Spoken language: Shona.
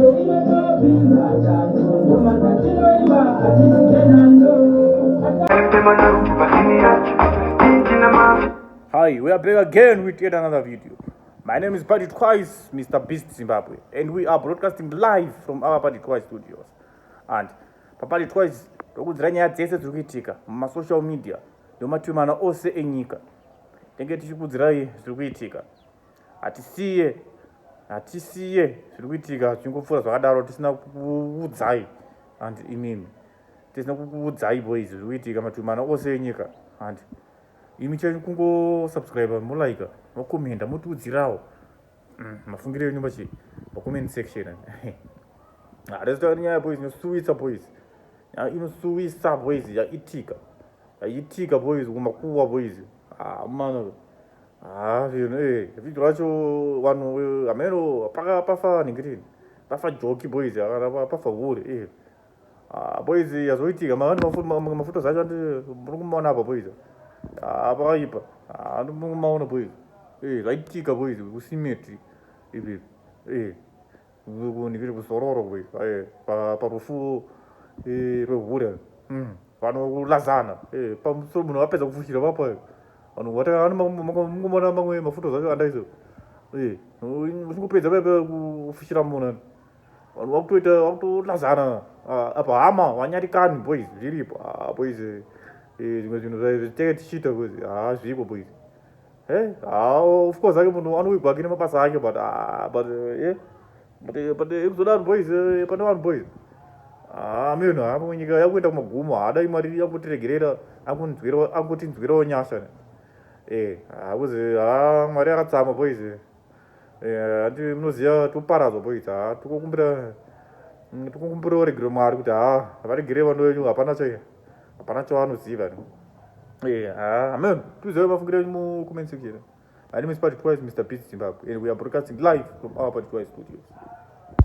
Hi, we are back again with yet another video. My name is Paddy Twice, Mr. Beast Zimbabwe, and we are broadcasting live from our Paddy Twice studios. And paPaddy Twice, tokudzira nyaya dzese dziri kuitika mumasocial media nemativi mana ose enyika. Tenge tichikudzirai zviri kuitika. hatisiye hatisiye zviri kuitika zvingopfuura zvakadaro tisina kuudzai and imimi tisina kuudzai boys zviri kuitika matumana ose enyika and imi chenyu kungosubscribe molaika mokomenda motiudzirawo mm, mafungiro enyu machi macoment section hatizotaura nyaya boys inosuwisa boys nyaya inosuwisa boys yaitika yaitika boys kumakuwa boys ah, mano Ah, vino eh, vhiki racho vanhu eh, hameno paka pafa nhingirini pafa joki boys akana pa- pafa hure eh. Ah, boys yazoitika ma- vanhu mafu- ma- ma- mafuta zacho andi muri kumaona apa boys Ah, pakaipa Ah, andi muri kumaona boys eh, zvaitika boys kusimeti ipi eh. viri kuzororo parufu rwehure hmm. vanolazana pamusoro munhu vapedza kufushira vapo vanhu vatakaanomona mamwe mafuto zacho andaizo uchingopedza paipa kufushira munhu vanhu vakutoita vakutolazana apa hama vanyarikani boys zviripo boys zvimwe zvinhu zvaitenge tichiita kozi haa zvipo boys Hey, eh, ah, of course ake munhu anowigwa ake nemabasa ake but ah, but eh, eh but eh, but eh, kuzoda vanhu boys eh, pane vanhu boys ah, ameno hapo ah, nyika yakuenda kumagumo haadai mari yakutirregerera akutinzwirawo nyasha eh hakuzi ah, ah, mwari akatsama boys eh. eh, hati munoziva toparadzwa poita ha tikokumbira mm, tikokumbira varegere mwari kuti ha varegere vano venyu hapana cha hapana chavanoziva ni eh, ha amen tizive mafungiro enyu mucomment section my name is party twice mr peace zimbabwe and we are broadcasting live from our party twice studios